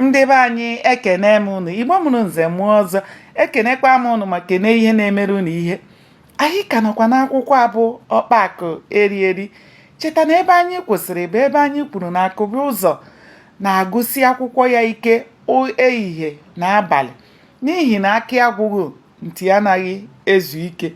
ndị be anyị ekene m ụnụ igbo mụrụ nze mụọ ọzọ ekenekwa m ụnụ ma kene ihe na-emere ụnụ ihe anyị ka nọkwa n'akwụkwọ a bụ ọkpa akụ eri eri cheta na ebe anyị kwụsịrị bụ ebe anyị kwuru na akụbụzọ na-agụsi akwụkwọ ya ike ehihie na abalị n'ihi na akị agwụghị nti anaghị ezu ike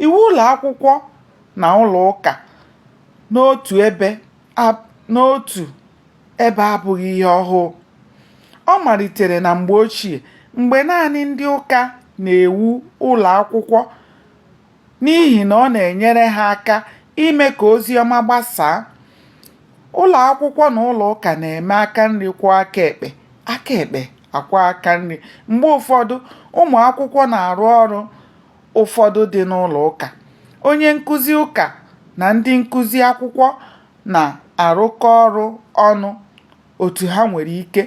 iwu ụlọ akwụkwọ na ụlọ ụka n'otu ebe n'otu ebe abụghị ihe ọhụụ ọ malitere na mgbe ochie mgbe naanị ndị ụka na-ewu ụlọ akwụkwọ n'ihi na ọ na-enyere ha aka ime ka ozi ọma gbasaa ụlọ akwụkwọ na ụlọ ụka na-eme aka nri kwọọ aka ekpe aka ekpe akwọọ aka nri mgbe ụfọdụ ụmụ akwụkwọ na-arụ ọrụ ụfọdụ dị n'ụlọ ụka onye nkụzi ụka na ndị nkụzi akwụkwọ na-arụkọ ọrụ ọnụ otu ha nwere ike.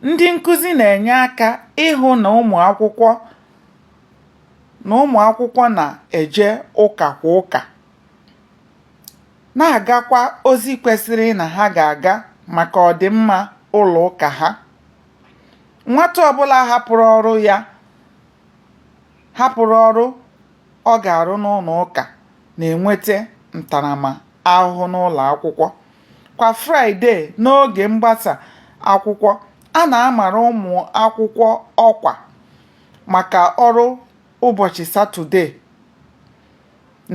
Ndị nkuzi na-enye aka ịhụ na ụmụ akwụkwọ na-eje ụka kwa ụka, na-agakwa ozi kwesịrị na ha ga-aga maka ọdịmma ụlọ ụka ha. Nwata ọbụla hapụrụ ọrụ ya hapụrụ ọrụ ọ ga-arụ n'ụlọ ụka na-enweta ntaramahụhụ n'ụlọ akwụkwọ. Kwa Fraịdee n'oge mgbasa akwụkwọ, a na-amara ụmụ akwụkwọ ọkwa maka ọrụ ụbọchị Satọdee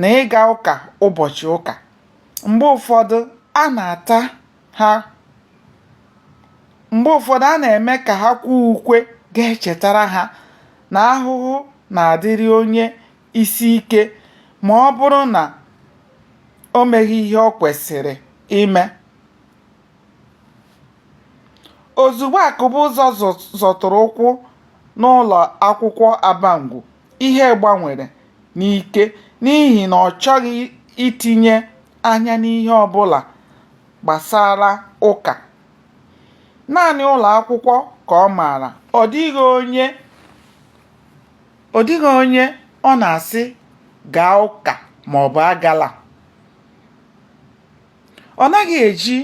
na ịga ụka ụbọchị ụka. Mgbe ụfọdụ, a na-ata ha mgbe ụfọdụ a na-eme ka ha kwee ukwe ga-echetara ha na ahụhụ na-adịrị onye isi ike ma ọ bụrụ na o meghị ihe o kwesịrị ime. Ozugbo Akụbụzọ zọtụrụ ụkwụ n'ụlọ akwụkwọ Abangwu, ihe gbanwere n'ike n'ihi na ọ chọghị itinye anya n'ihe ọ bụla gbasara ụka. Naanị ụlọ akwụkwọ ka ọ maara. Ọ dị ọ dịghị onye ọ na-asị gaa ụka ma ọ bụ agala. Ọ naghị eji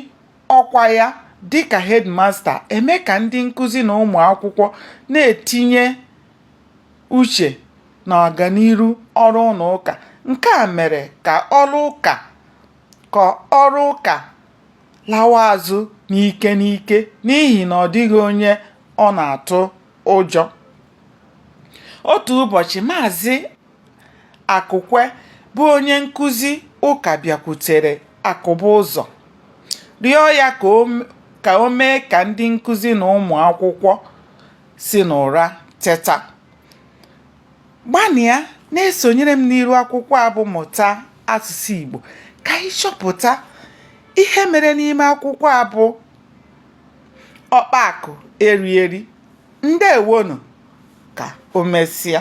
ọkwa ya dịka headmaster eme ka ndị nkụzi na ụmụ akwụkwọ na-etinye uche na ọganiru ọrụ ụlọ ụka. Nke a mere ka ọrụ ụka lawa azụ n'ike n'ike n'ihi na ọ dịghị onye ọ na-atụ ụjọ. Otu ụbọchị, Maazị Akụkwe bụ onye nkụzi ụka bịakwutere Akụbụzọ rịọ ya ka o mee ka ndị nkụzi na ụmụ akwụkwọ si n'ụra teta gbanịa na-esonyere m n'iru akwụkwọ a bụ mụta asụsụ Igbo ka anyị chọpụta ihe mere n'ime akwụkwọ a bụ Ọkpa Akụ Eri Eri ndewonụ ka o mesịa